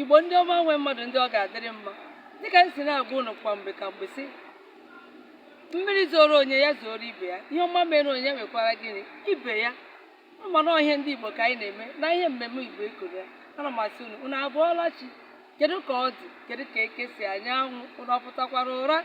Igbo ndị ọma nwe mmadụ ndị ọ ga-adịrị mma dịka m si na-agwa ụnụ kwa mgbe ka mgbe sị mmiri zoro onye ya zoro ibe ya ihe ọma mere onye ya mekwara gịnị ibe ya mana ọ ihe ndị Igbo ka anyị na-eme na ihe mmemme Igbo ekoro ya ana m asị unu unu abọọla chi kedu ka ọ dị kedu ka eke si anya anwụ ụnụ ọ pụtakwara ụra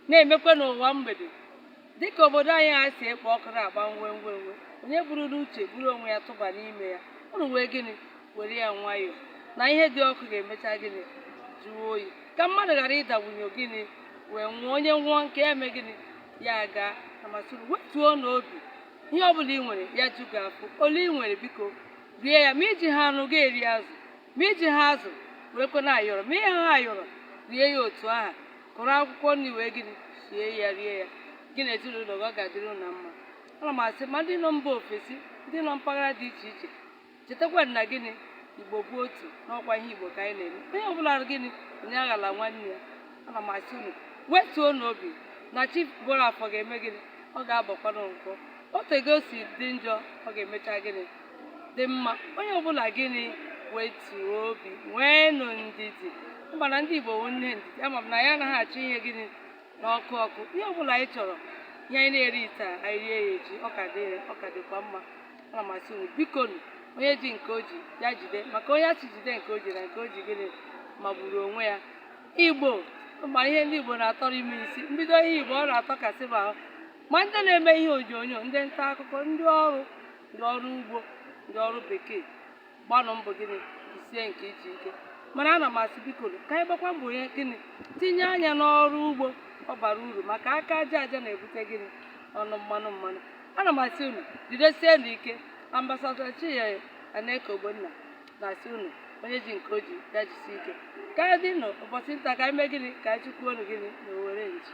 na-emekwa n'ụwa mgbede dịka obodo anyị ha si ekpo ọkụ na-agba nwe nwe nwe onye buru n'uche buru onwe ya tụba n'ime ya ụnụ wee gịnị were ya nwayọọ na ihe dị ọkụ ga-emecha gịnị jụọ oyi ka mmadụ ghara ịdawunye gịnị wee nwụọ onye nwụọ nke ya emee gịnị ya agaa ana m asị unu wetuo nụ obi ihe ọ bụla ị nwere ya ju gị afọ ole ị nwere biko rie ya ma i jiha anụ gị erie azụ ma i jiha azụ werekwa nụ ayọrọ ma i jiha ayọrọ rie ya otu aha kụrụ akwụkwọ nri wee gịnị sie ya rie ya gị na ezinụlọ gị ọ ga-adịrị unu mma ana m asị ma ndị nọ mba ofesi ndị nọ mpaghara dị iche iche chetakwa na gịnị igbo bụ otu na ọ kwa ihe igbo ka anyị na-eme onye ọbụla gịnị onye aghala nwanne ya ana m asị unu wetuo nụ obi na chi bọrọ afọ ga-eme gịnị ọ ga-abọkwanụ nkwọ otu ego si dị njọ ọ ga-emecha gịnị dị mma onye ọbụla gịnị wetuo obi nwee nụ ndidi mba na ndị igbo nwe ndidi ama m na anyị anaghị achọ ihe gịnị na ọkụ ọkụ ihe ọbụla anyị chọrọ ihe anyị na-eri taa anyị rie ya echi ọ ka dịkwa mma Ana m asị unu, bikonu, onye ji nke o ji, ya jide, maka onye a sị jide nke o ji na nke o ji gịnị magburu onwe ya. Igbo, ma ihe ndị Igbo na-atọrọ ime isi, mbido ihe Igbo ọ na-atọkasị m ahụ. Ma ndị na-eme ihe onyonyo, ndị nta akụkọ, ndị ọrụ, ndị ọrụ ugbo, ndị ọrụ bekee, gbanụ mbọ gịnị jisie nke i ji ike mana ana m asị biko ka anyị gbakwa mbọ onye gịnị tinye anya n'ọrụ ugbo ọ bara uru maka aka aja aja na-ebute gịnị ọnụ mmanụ mmanụ ana m asị unu jidesie nụ ike ambasadọ chinyere aneke ogbonna na-asị unu onye ji nke o ji ya jisi ike ka ọ dị nụ ụbọchị nta ka anyị mee gịnị ka anyị chụkwuo nụ gịnị na owere nchi